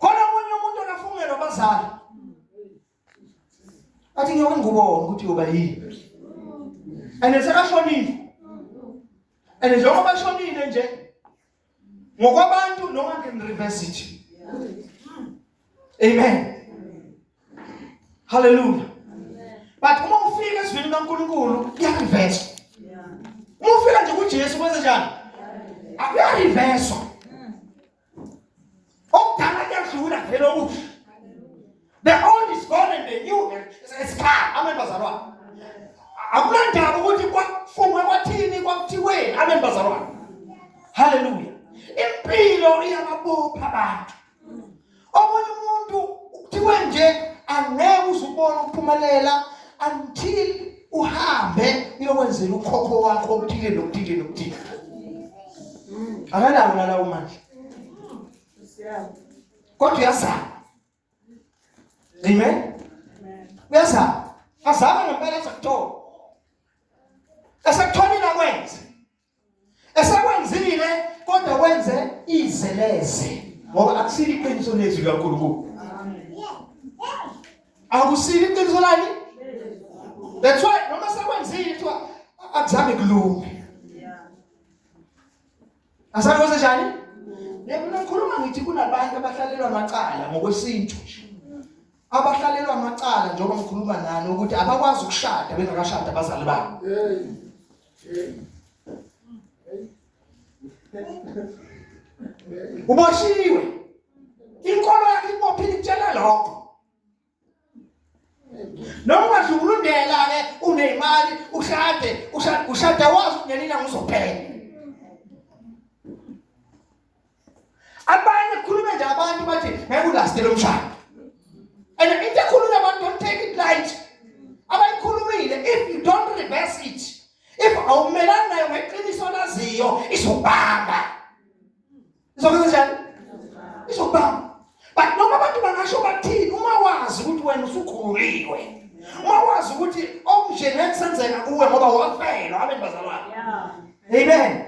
khona omunye umuntu akafungelwa abazali athi ngiyoke ngikubona ukuthi uyoba yini and sekashonile and njengoba shonile nje ngokwabantu noma ngireverse it Amen. Hallelujah. But uma ufika ezwini kaNkulunkulu kuyareverse. Uma ufika nje kuJesu kwenze njani? Akuyareverse. Okudala kuyadlula vele okusha. The old is gone and the new is come. Amen bazalwane. Akunandaba ukuthi kwafunwe kwathini kwakuthiweni. Amen bazalwane. Hallelujah. Impilo iyababopha abantu. omunye umuntu kuthiwe nje angeke uzubona ukuphumelela until uhambe uyokwenzela ukhokho wakho okuthile nokuthile nokuthile akanawo lalawo manje kodwa uyazama amen uyazama azame ngempela esekuthola esekutholile akwenze esekwenzile kodwa wenze izeleze ngoba akusile iqiniso lezwi likaNkulunkulu akusile iqiniso lani that's why noma sekwenzile kuthiwa akuzange kulunge asale kwenze njani ngikhuluma ngithi kunabantu abahlalelwa amacala ngokwesintu nje abahlalelwa amacala njengoba ngikhuluma nani ukuthi abakwazi ukushada bengakashada abazali babo uboshiwe inkolo yakhe ibophile ikutshela lokho noma ungadlulundela ke unemali ushade ushade wazi ngenina ngizophela abanye khuluma nje abantu bathi ngeke ulaste lo mshado and into ekhuluma abantu don't take it light abayikhulumile if you don't reverse it if awumelani nayo ngeqiniso laziyo izobamba izokwenza njani izobamba but noma abantu bangasho bathini uma wazi ukuthi wena usukhuliwe uma wazi ukuthi okunje ngeke senzeka kuwe ngoba wafelwa abantu bazalwane amen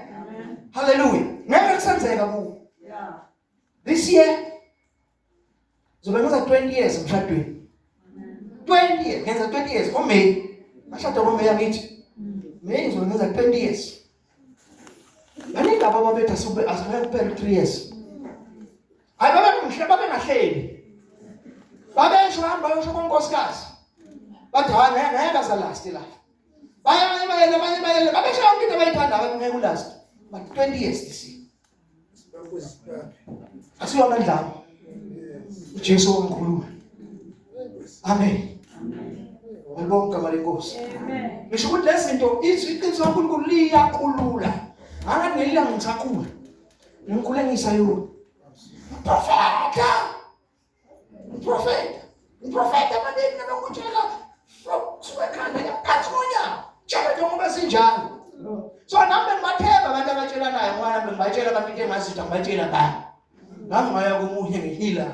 haleluya ngeke kusenzeka kuwe this year zobe ngiza 20 years emshadweni 20 years ngenza 20 years ngoMay ngashada ngoMay yakithi May ngizobe ngiza 20 years Baningi ababa bethu asube asube kuphela 3 years. Hayi baba kumhle baba ngahleli. Babesho hamba yosho konkosikazi. Bathi hayi ngeke ngeke azalast la. Baye baye baye baye babesho yonke into abayithanda abantu ngeke ulast. But 20 years this year. asiwa amandla akho uJesu omkhulu amen Ngibonga igama lenkosi. Amen. Ngisho ukuthi lezinto izwi iqiniso kaNkulunkulu liyakhulula. Ngaka ngelila ngisakhula. Ngikhule ngisayona. Profeta. Ngiprofeta. Ngiprofeta abaningi nabakutshela from kusuka ekhanda ngaphansi konyawo. Tshela nje ngoba sinjalo. So nami bengibathemba abantu abatshelanayo ngoba nami bengibatshela abantu into engazitha ngibatshela bani. Ngaze ngaya komunye ngihila.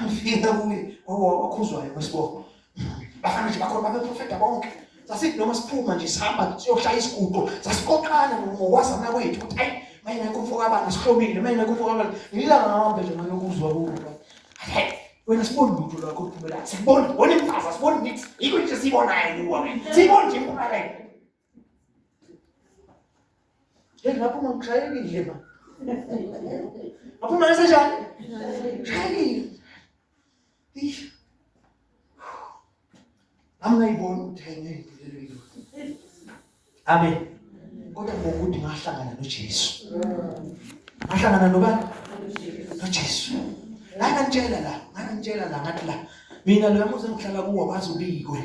Ngifika kuye ngoba wakhuzwayo kwesibongo. bafana nje bakhona babeprofeta bonke sasithi noma siphuma nje sihamba siyoshaya isiguqo sasikoqana ngokwazana kwethu ukuthi ayi mayengekho umfo kabani sihlomile mayengekho umfo kabani ngilanga ngihambe nje nganokuzwa kuwo hayi wena siboni lutho lwakho luphumela siboni wona imfaza siboni nix yikho nje siyibonayo kuwa siyiboni nje impumelelo Hey, ngapha uma ngishayekile ma. Ngapha uma ngisenjani? Shayekile. Eish. Angayiboni ukuthi ayingeyiphilelo yini. Amen. Kodwa ngokuthi ngahlangana noJesu. Ngahlangana nobani? NoJesu. Ngangitshela la, ngangitshela la ngathi la. Mina lo yamuzi engihlala kuwo wazi ubikwe.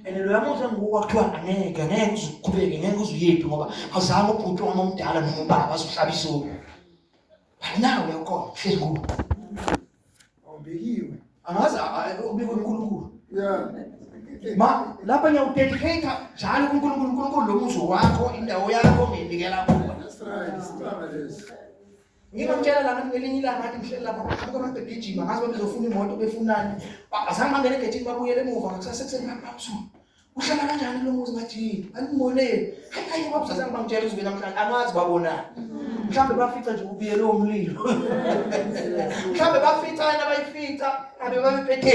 and loya muntu enguwo kwakuthiwa angeke ngeke uzuqhubeke ngeke uzuyephi ngoba awuzange ubhuti wami omdala noma ubaba azohlaba isoko nawe ukhona hlezi kuwo awubekiwe angazi ubikwe uNkulunkulu yeah ma lapha ngiyawudedicate njalo kuNkulunkulu uNkulunkulu lo muzi wakho indawo yakho nginikela kuwe that's right isibaba lesi Ngibamtshela lana ngelinye ilanga ngathi ngihleli lapha kubuka abantu begijima ngazi ukuthi ngizofuna imoto befunani. Azange bangene egethini babuyele emuva ngakusasa ekuseni babusuku. Uhlala kanjani lo muzi ngathi yini? Angimoneli. Hayi hayi babusa azange bangitshele ukuthi namhlanje angazi babonani. Mhlawumbe bafica nje ubiyele umlilo. Mhlawumbe bafica yena bayifica abe babephethe